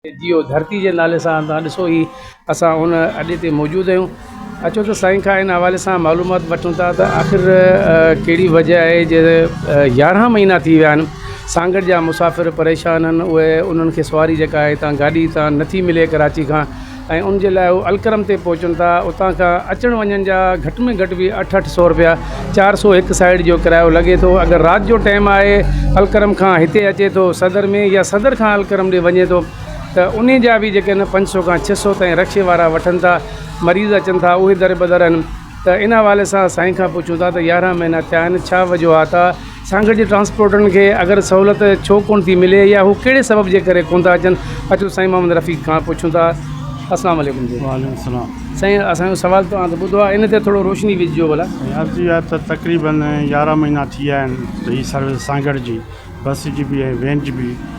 جيئو ڌرتي جي نالي سان تان ڏسو هي اسان ان اڏي تي موجود آهيون اچو ته سائين کان ان حوالي سان معلومات وٺون ٿا ته آخر ڪهڙي وجه آهي جي يارهن مهينا ٿي ويا آهن سانگهڙ جا مسافر پريشان آهن اهي انهن کي سواري جيڪا آهي تان گاڏي تان نٿي ملي ڪراچي کان ۽ ان جي لاء هو الڪرم تي پهچن ٿا اتان کان اچڻ وڃڻ جا گهٽ ۾ گهٽ به اٺ اٺ سو روپيا چار سؤ هڪ سائيڊ جو ڪرايو لڳي ٿو اگر رات جو ٽائيم آهي الڪرم کان هتي اچي ٿو صدر ۾ يا صدر کان الڪرم ڏي وڃي ٿو ته انهي جا به جيڪي آهن پنج سؤ کان ڇهه سؤ تائين رڪشي وارا وٺن ٿا مريض اچن ٿا اهي دربدر آهن ته ان حوالي سان سائين کان پڇون ٿا ته يارهن مهينا ٿيا آهن ڇا وجوهات آهي سانگهڙ جي ٽرانسپورٽرن کي اگر سهولت ڇو ڪونه ٿي ملي يا هو ڪهڙي سبب جي ڪري ڪونه ٿا اچن اچو سائين محمد رفيق کان پڇون ٿا اسلام عليڪم جي وعليڪم السلام سائين اسان جو سوال توهان ته ٻڌو آهي ان تي ٿورو روشني وجهجو ڀلا سائين عرض اها ته تقريبن يارهن مهينا ٿي ويا آهن ته هي سروس سانگهڙ جي بس جي به ۽ وين جي به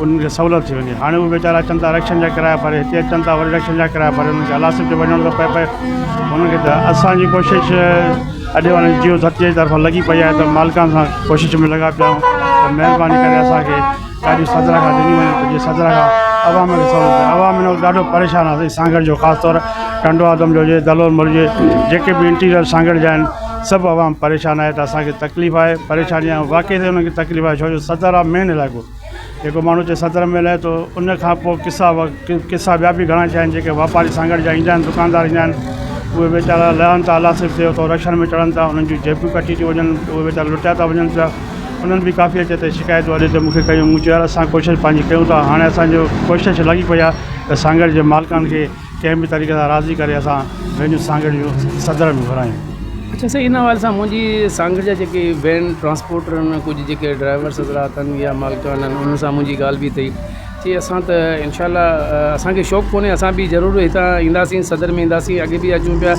انهن کي سهولت ٿي وڃي هاڻي اهي ويچارا اچن ٿا رڪشن جا ڪرايا ڀري هتي اچن ٿا وري رڪشن جا ڪرايا ڀري انهن کي الاسڪ به وڃڻو ٿو پئي پئي انهن کي ته اسانجي ڪوشش اڄ واري جيو ڌرتيء جي طرفان لڳي پئي آهي ته مالڪان سان ڪوشش ۾ لڳا پيا آهيون ته مهرباني ڪري اسانکي ڏاڍي سدرا کان ڏني وڃي ته جيئن سدرا کان عوام کي سهولت ٿئي عوام هن وقت ڏاڍو پريشان آهي سائين سانگهڙ جو خاص طور ٽنڊو آدم جو هجي دلول مل جي جيڪي به انٽيريل سانگهڙ جا آهن سڀ عوام پريشان آهي ته اسانکي تڪليف آهي پريشاني آهي واقعي ته انهن کي تڪليف آهي ڇو جو سدر آ مين علائقو جيڪو ماڻهو اتي صدر ۾ رهي ٿو ان کان پوء قصا قصا ٻيا به گهڻا ٿيا آهن جيڪي واپاري سان گڏ جا ايندا آهن دڪاندار ايندا آهن اهي ويچارا لهن ٿا الله صرف ٿيو ٿو رڪشن ۾ چڙهن ٿا انهن جون جيبيون ڪٽي ٿيون وڃن اهي ويچارا لٽيا ٿا وڃن پيا انهن به ڪافي اچي اتي شڪايتون اڏي تي مونکي ڪيون مون چيو يار اسان ڪوشش پنهنجي ڪيون ٿا هاڻي اسانجو ڪوشش لڳي پئي آهي ته سانگهڙ جي مالڪن کي ڪنهن به طريقي سان راضي ڪري اسان پنهنجون سانگهڙ جون صدر ۾ گهرايون. اچا سائين ان حوالي سان منهنجي سانگهڙ جا جيڪي وين ٽرانسپورٽر آهن ڪجهه جيڪي ڊرائيورس حضرات آهن يا مالڪان آهن انهن سان منهنجي ڳالهه به ٿي چي اسان ته انشاء الله اسانکي شوق ڪونهي اسان به ضرور هتان اينداسين صدر ۾ اينداسين اڳي به اچون پيا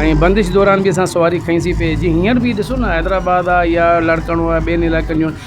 ۽ بندش دوران به اسان سواري کئيسي پئي جي هينئر به ڏسو نه حيدرآباد آهي يا لاڙڪاڻو آهي ٻين علائقن جون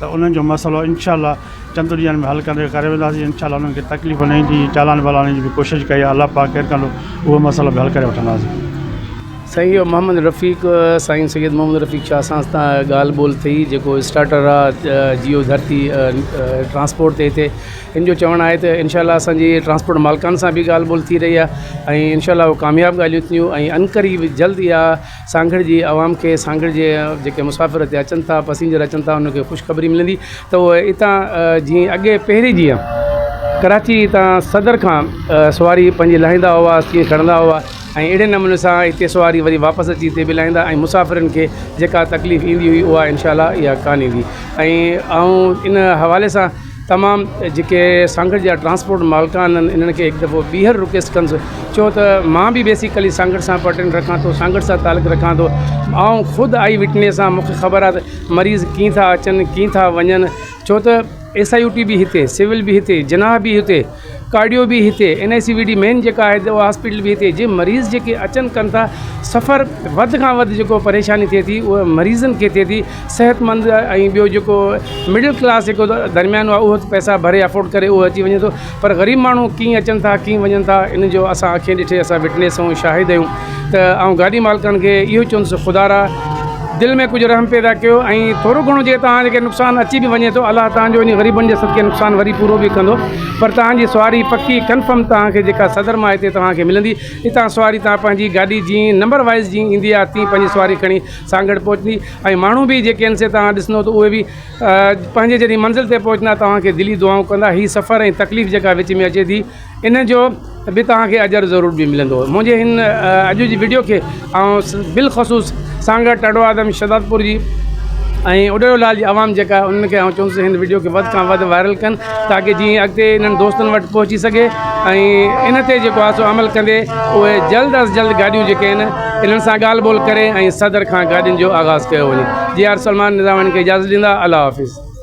ته انهن جو مسئلو انشاء الله چند ڏينهن ۾ حل ڪندي ڪري وينداسين انشاء الله انهن کي تڪليف نه ايندي چالان والان جي به ڪوشش ڪئي آهي الله پاڪ خير ڪندو اهو مسئلو به حل ڪري وٺنداسين. سائين اهو محمد رفيق سائين سيد محمد رفيق شاهه سان اسان ڳالهه ٻولهه ٿي جيڪو اسٽارٽر آهي جيو ڌرتي ٽرانسپورٽ تي هتي هن جو چوڻ آهي ته انشاء الله اسان جي ٽرانسپورٽ مالڪان سان به ڳالهه ٻولهه ٿي رهي آهي ۽ انشاء الله هو ڪامياب ڳالهيون ٿينديون ۽ انقريب جلد اها سانگهڙ جي عوام کي سانگهڙ جي جيڪي مسافر هتي اچن ٿا پسينجر اچن ٿا انهن کي خوشخبري ملندي ته اهي هتان جيئن اڳي پهرين جيئن ڪراچي هتان صدر کان سواري پنهنجي لاهيندا هئا تيئن کڻندا هئا ۽ اهڙي نموني سان هتي سواري وري واپس اچي هتي به لاهيندا ۽ مسافرن کي جيڪا تڪليف ايندي هئي اها انشاء الله اها ڪانه ايندي ۽ آئون ان حوالي سان تمام جيڪي سانگهڙ جا ٽرانسپورٽ مالڪان آهن انهن کي هڪ دفعو ٻيهر رڪويسٽ ڪنس ڇو ته مان به بيسيڪلي سانگهڙ سان پرٽين رکان ٿو سانگهڙ سان تعلق رکان ٿو آئون خود آئي وٽنيس آهيان مون کي خبر آهي ته مريض ڪيئن ٿا اچن ڪيئن ٿا وڃن ڇو ته ايس آئي يو ٽي به هتي سول به هتي جناح به هتي ڪارڊيو به هتي N I C V D main جيڪا آهي اها هاسپيٽل به هتي جي مريض جيڪي اچن ڪن ٿا سفر وڌ کان وڌ جيڪو پريشاني ٿئي ٿي اها مريضن کي ٿئي ٿي صحت مند ۽ ٻيو جيڪو مڊل ڪلاس جيڪو درميانو آهي اهو ته پئسا ڀري افورڊ ڪري اهو اچي وڃي ٿو پر غريب ماڻهو ڪيئن اچن ٿا ڪيئن وڃن ٿا ان جو اسان اکين ڏٺي اسان وٽنيس آهيون شاهد آهيون ته آئون گاڏي مالڪن کي اهو چوندس ته خدارا دل ۾ ڪجهه رحم پيدا ڪيو ۽ ٿورو گهڻو جي توهان کي نقصان اچي به وڃي ٿو الله توهان جو ان غريبن جي صدقي نقصان وري پورو به ڪندو پر توهان جي سواري پڪي ڪنفرم توهان کي جيڪا صدر ماء تي توهان کي ملندي اتان سواري توهان پنهنجي گاڏي جي نمبر وائز جي ايندي آهي تي پنهنجي سواري کڻي سانگهڙ پهچندي ۽ ماڻهو به جيڪي آهن سي توهان ڏسندو ته اهي به پنهنجي جڏهن منزل تي پهچندا توهان کي دلي دعائون ڪندا هي سفر ۽ تڪليف جيڪا وچ ۾ اچي ٿي ان جو به توهان کي اجر ضرور به ملندو. منهنجي هن اڄ جي وڊيو کي آئون بالخصوص سانگهڙ، ٽاڊوآدم، شهدادپور جي ۽ اڏڙو لال جي عوام جيڪا آهي انهن کي آئون چوندس ته هن وڊيو کي وڌ کان وڌ وائرل ڪن تاڪه جيئن اڳتي انهن دوستن وٽ پهچي سگهي ۽ ان تي جيڪو آهي سو عمل ڪندي اهي جلد از جلد گاڏيون جيڪي آهن انهن سان ڳالهه ٻولهه ڪري ۽ صدر کان گاڏين جو آغاز ڪيو وڃي جي آر سلمان نظاماڻي کي اجازت ڏيندا الله حافظ.